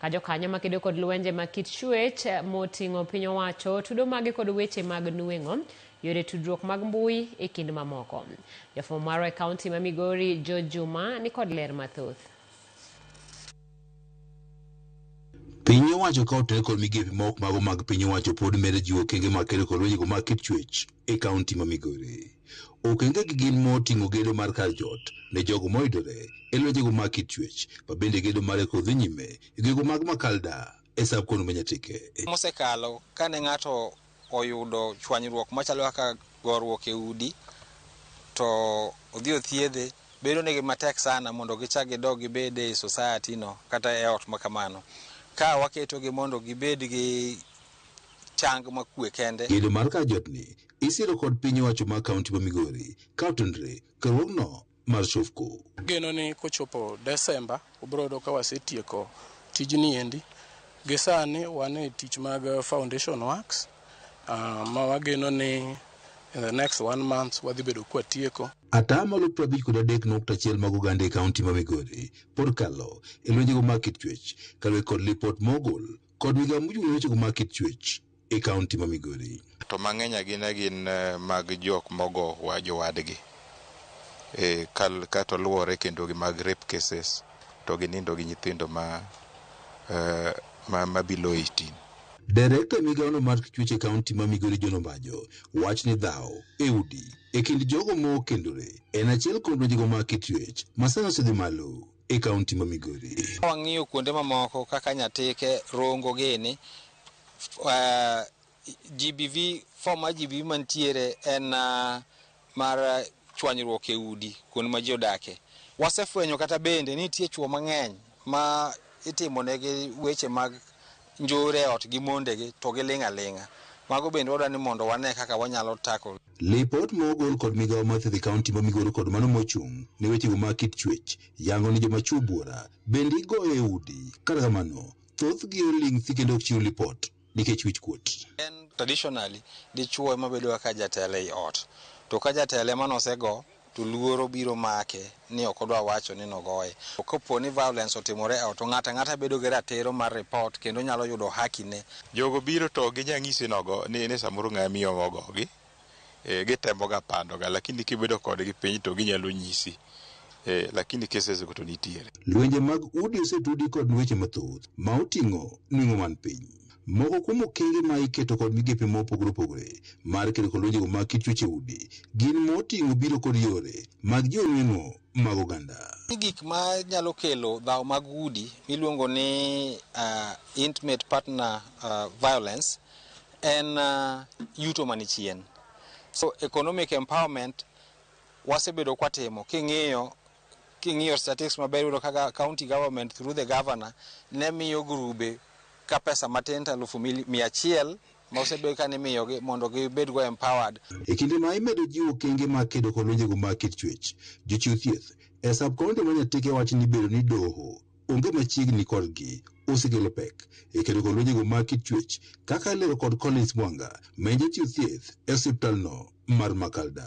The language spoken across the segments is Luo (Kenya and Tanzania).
Ka jokanyo makedo kod lwenje mag kit chuech moting'o piny owacho tudo maggi kod weche mag nueng'o, yore tudruok mag mbui e kind mamoko. Jafwambo marwa e kaunti ma Migori George Juma ni kod ler mathoth. Piny owacho ka otere kod migepe maok mago mag piny owacho pod medo jiwo okenge mag kedo kod lwenjego mag kit chuech e kaunti ma Migori. Okengegi gin moting'o gedo mar kar jot ne jogo moidore e lwenjego mag kit chuech, ma bende gedo mare koro dhi nyime e gwenge mag Makalda e sub kono ma Nyatike. Mosekalo kane ng'ato oyudo chwanyruok machalo kaka goruok e udi to odhi othiedhe, bedo negi matek sana mondo gichak gidog gibed e society no kata e ot makamano. Ka waketogi mondo gibed gi chang ma kwe kende. Gedo mar kar jot ni isiro kod piny owacho ma kaunti ma Migori ka otenore kerwogno mar Shofco. Ageno ni kochopo Desemba ubiro yudo ka wasetieko tijni endi. Gi sani wan e tich mag foundation works uh, ma wageno ni in the next one month wadhi bedo kwa tieko. Ataa malo piero abich kod adek nukta achiel mag oganda e kaunti ma Migori pod kalo e lwenjego mag kit chuech kaluwe kod lipot mogol kod migao mochung' ne wechego mag kit chuech e kaunti ma Migori. To mang'eny agina gin mag jok mogo wa jowadgi e kal kato luwore kendo gi mag rape cases to gi nindo gi nyithindo ma, ma, ma below 18. Director e migao no mar chuech e kaunti ma Migori John Ombajo wacho ni dhaw e udi e kind jogo ma okendore en achiel kuom lwenjego mag kit chuech ma sani osedhi malo e kaunti ma Migori. Wang'iyo kuonde mamoko kaka Nyatike, Rongo gini, uh, GBV, fom mar GBV mantiere en uh, mar uh, chwanyruok e udi kuonde ma ji odake. Wasefwenyo kata bende nitie chwo mang'eny ma itimonegi weche mag njore e ot gi mondegi to giling' aling'a. Mago bende wadwa ni mondo wane kaka wanyalo tackle. Lipot ma ogol kod migao mar thieth e kaunti ma Migori kod mano mochung' ne wechego mag kit chuech yango ni joma chuo buora bende igoyo e udi kata kamano thothgi oling' thi kendo ok chiw lipot nikech wich kuot. Traditionally, dichuo ema bedoga ka jatelo ei ot. To ka jatelo ema nosego, to luoro biro make ni ok odwa wacho ni nogoye. To kopo ni violence otimore e ot to ng'ato ang'ata bedo gi ratiro mar report kendo onyalo yudo haki ne. Jogo biro to ginya ng'isi nogo ni ni samoro ng'ama miyo ema ogogi. Ee, gitemo ga pando ga lakini kibedo kodgi piny to ginyalo nyisi. Ee, lakini cases go to nitiere. Lwenje mag udi osetudi kod weche mathoth ma oting'o nweng'o man piny. Moko kuom okenge ma iketo kod migepe ma opogore opogore mar kedo kod lwenjego mag kit chuech e udi gin ma oting'o biro kod yore mag jiwo nweng'o mag oganda. Ni gik ma nyalo kelo dhaw mag udi miluongo ni uh, intimate partner uh, violence en uh, yuto mani chien. So economic empowerment wasebedo kwatimo king'iyo King'iyo statistics maber iyudo kaka county government through the governor ne miyo grube ka pesa matin to alufu mia achiel ma osebedo ka nimiyogi mondo gibedgo empowered. E kinde ma imedo jiwo okenge mag kedo kod lwenjego mag kit chuech, jochiw thieth e sub-county ma Nyatike wacho ni bedo ni doho onge machiegni kodgi osekelo pek e kedo kod lwenjego mag kit chuech kaka ilero kod Collins Mwanga ma en jachiw thieth e osiptalno mar Makalda.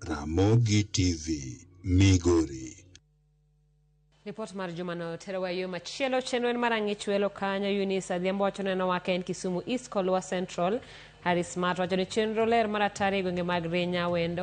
Ramogi TV, Migori. Ripot mar jumano terowa e yo machielo. Chenro en mar ang'ich welo kanyo. Eunice Adhiambo wacho neno wake en Kisumu East kod Luo Central. Harris Mato wacho ni chenro ler mar atari e gwenge mag Rinya, Wendo,